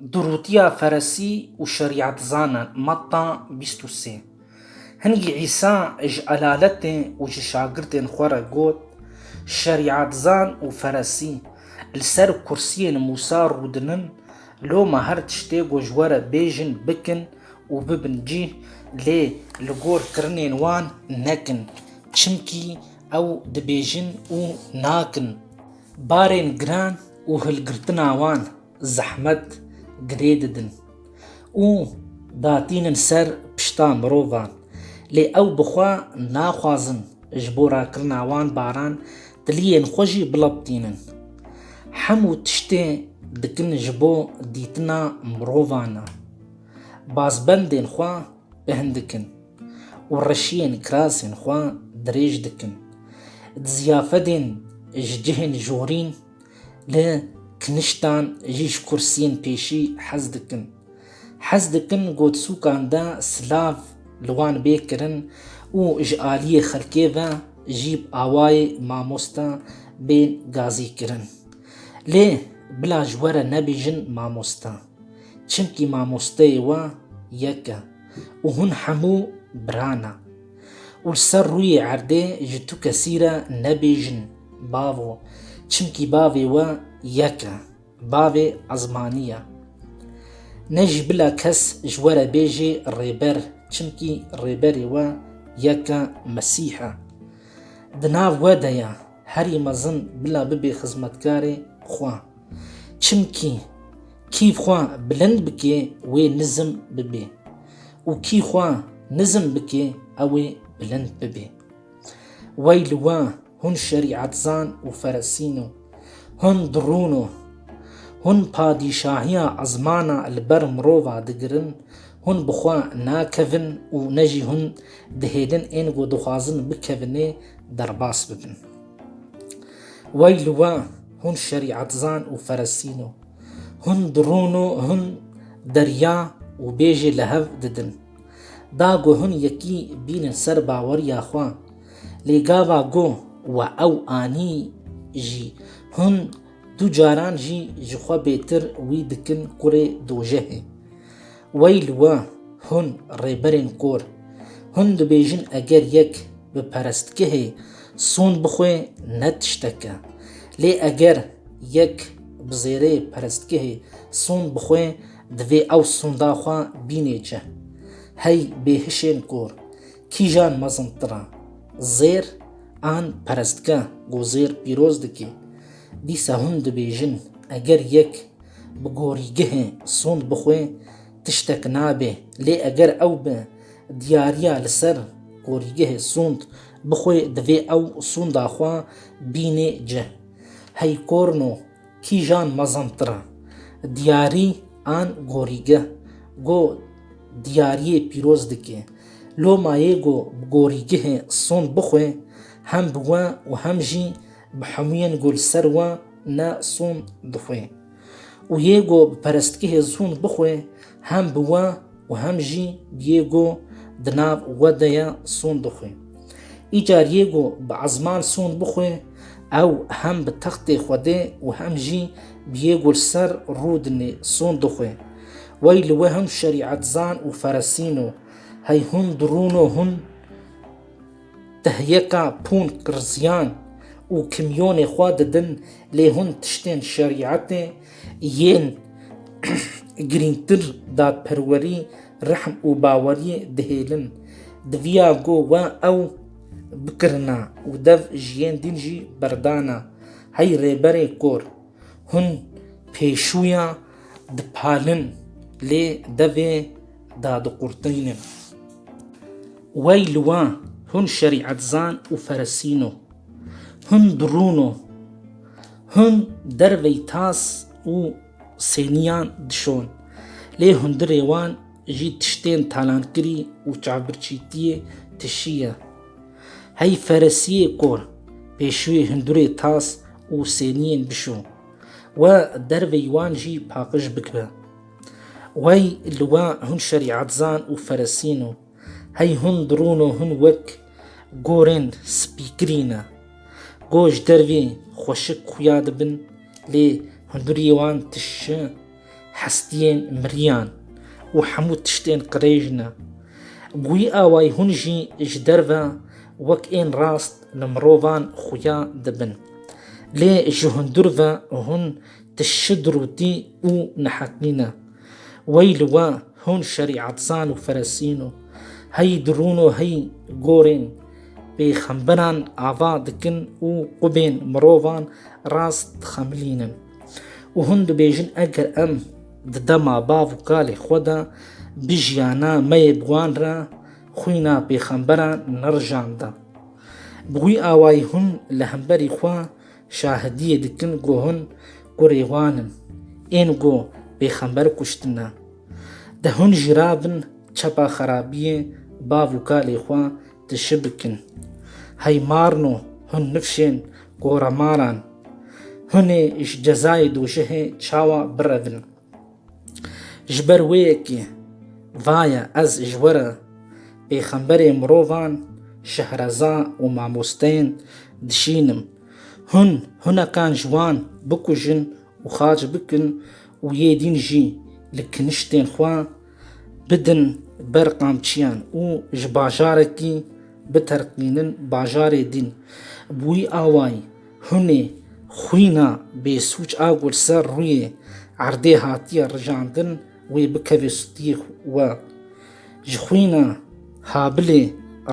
Durûtiya Feresî û Şerîetzanan, Matta bîst û sê Hingî Îsa ji elaletê û ji şagirtên xwe re got, Şerîetzan û Feresî, li ser kursiyên Mûsa rûdinin, loma her tiştê ku ji we re bêjin bikin û bibin cîh, lê li gor kirinên wan nekin, çimkî ew dibêjin û nakin, barên giran û hilgirtina wan, zehmet girê didin û datînin ser pişta mirovan lê ew bi xwe naxwazin ji bo rakirina wan baran tiliyên xwe jî bilaptînin. Hemû tiştê dikin ji bo dîtina mirovan e. Bazbendên xwe pêhn dikin û reşiyên kirasên xwe dirêj dikin. Di ziyafedên ji cihên jorîn. Li kiniştan jî ji kursiyên pêşî hez dikin. Hez dikin gotsûkan de silav li wan bê kirin û ji aliyê xelkê ve jî bi awayê mamoste bên gazîkirin. Lê bila ji we re nebêjin mamoste. Çimkî mamosteyê we yek e û hûn hemû bira ne. Û li ser rûyê erdê ji tu kesî re nebêjin Bavo, çimkî Bavê we yek e, Bavê Ezmanî ye. Ne jî bila kes ji we re bêjê Rêber, çimkî Rêberê we yek e, Mesîh e. Di nav we de ye, Herî mezin bila bibê xizmetkarê xwe. Çimkî kî xwe bilind bikê wê nizm bibê û kî xwe nizm bikê ew ê bilind bibê. Wey li we hûn şerîetzan û feresîn o, hûn dirûn o. Hûn padîşahiya ezmana li ber mirova digirin Hûn bi xwe nakevin û ne jî hûn dihêlin ên ku dixwazin bikevinê derbas bibin. Wey li we hûn şerîetzan û ferestîn û hûn di rûn û hûn derya û bêjê li hev didin. Da ku hûn yekî bînin ser baweriya xwe, lê gava ku we ew anî jî hûn Du caran jî ji xwe bêtir wî dikin kurê dojehê. Wey li we hûn rêberên kor! Hûn dibêjin eger yek bi perestgehê son bixwe ne tiştek e. Lê eger yek bi zêrê perestgehê son bixwe divê ew sonda xwe bînê çi? Hey bêhişên kor! Kîjan mezin tira, zêr an perestgeh ku zêr pîroz dike, dîsa hûn dibêjin eger yek bi gorîgehê sond bixwe tiştek nabe lê eger ew bi diyariya li ser gorîgehê sond bixwe divê ew sonda xwe bînê cih. Hey korno! Kîjan mezin tira? Diyarî an gorîgeh? Go diyariyê pîroz dike. Lo ma yê go bi gorîgehê son bixwe, hem bi we û hem jî bi hemûyên go li ser we ne son dixwe. Û yê go bi perestgehê son bixwe, Hem bi we û hem jî Diego di nav we de ye son dixwe. Îcar Diego bi ezman son bixwe, ew hem bi textê Xwedê û hem jî Diego li ser rûdinê son dixwe. Wey li we hûn şerîetzan û feresîno, hey hûn dirûno hûn. Tehyeka pûn qirziyan û kimyonê xwe didin lê hûn tiştên şerîetê yên girîngtir dadperwerî, rehm û bawerî dihêlin. Diviya ku we ew bikirina û dev ji yên din jî berdana. Hey Rêberê Kor! Hûn pêşûya dipalin lê devê dadiqurtînin. Wey li wan, hûn şerîetzan û feresîno. Hûn birûno. Hûn dervey tas û sênîyan dişon. Lê hundirê wan jî tiştên talankirî û çavbirçîtiyê tişî ye. Hey feresîyê kor, pêşûyê hundirê tas û sênîyên bişo we dervey wan jî paqij bikibe. Wey li wan, hûn şerîetzan û feresîno. Hey hûn dirûn û hûn wek gorên spîkirî ne. Go ji dervê xweşik xuya dibin lê hundirî wan tişi hestiyên miriyan û hemû tiştên qirêj ne. Wî awayî hûn jî ji derve wek ên rast li mirovan xuya dibin. Lê ji hundir ve hûn tişi dirûtî û nehetnî ne. Wey li we hûn şerîatzan û feresîn û hey dirûn û hey gorên pêxemberan ava dikin û qubên mirovan rast dixemilînin. Û hûn dibêjin eger em di dema bav û kalê xwe de bijiyana me yê bi wan re xwîna pêxemberan nerijanda. Bi wî awayî hûn li hemberî xwe Şahidiyê dikin ku hûn kurê wan in, ên ku pêxember kuştine. De hûn jî rabin çepa xerabiyê bav û kalê xwe tişi bikin. Hey marno hûn nifşên koremaran, hûnê ji cezayê dojihê çawa birevin. Ji ber wê yekê vaye ez ji we re pêxemberê mirovan, şehreza û mamosteyên dişînim. Hûn hunekan ji wan bikujin û xac bikin û yê dîn jî li kiniştên xwe bidin ber qamçiyan û ji bajarekî biterqînin bajarê dîn. Bi wî awayî Hûn ê xwîna bêsûc a ku li ser rûyê erdê hatiye rijandin wê bikeve stûyê we. Ji xwîna Habilê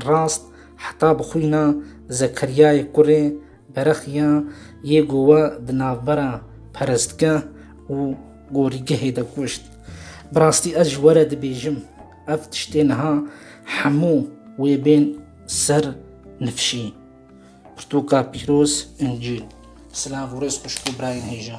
rast heta bi xwîna Zekeryayê kurê berexiya yê ku we di navbera perestgeh û gorîgehê de kuşt. Bi rastî ez ji we re dibêjim ev tiştê niha hemû wê bên ser nifşî. Pirtûka pîroz, Încîl. Silav û rêz xwişk û birayên hêja.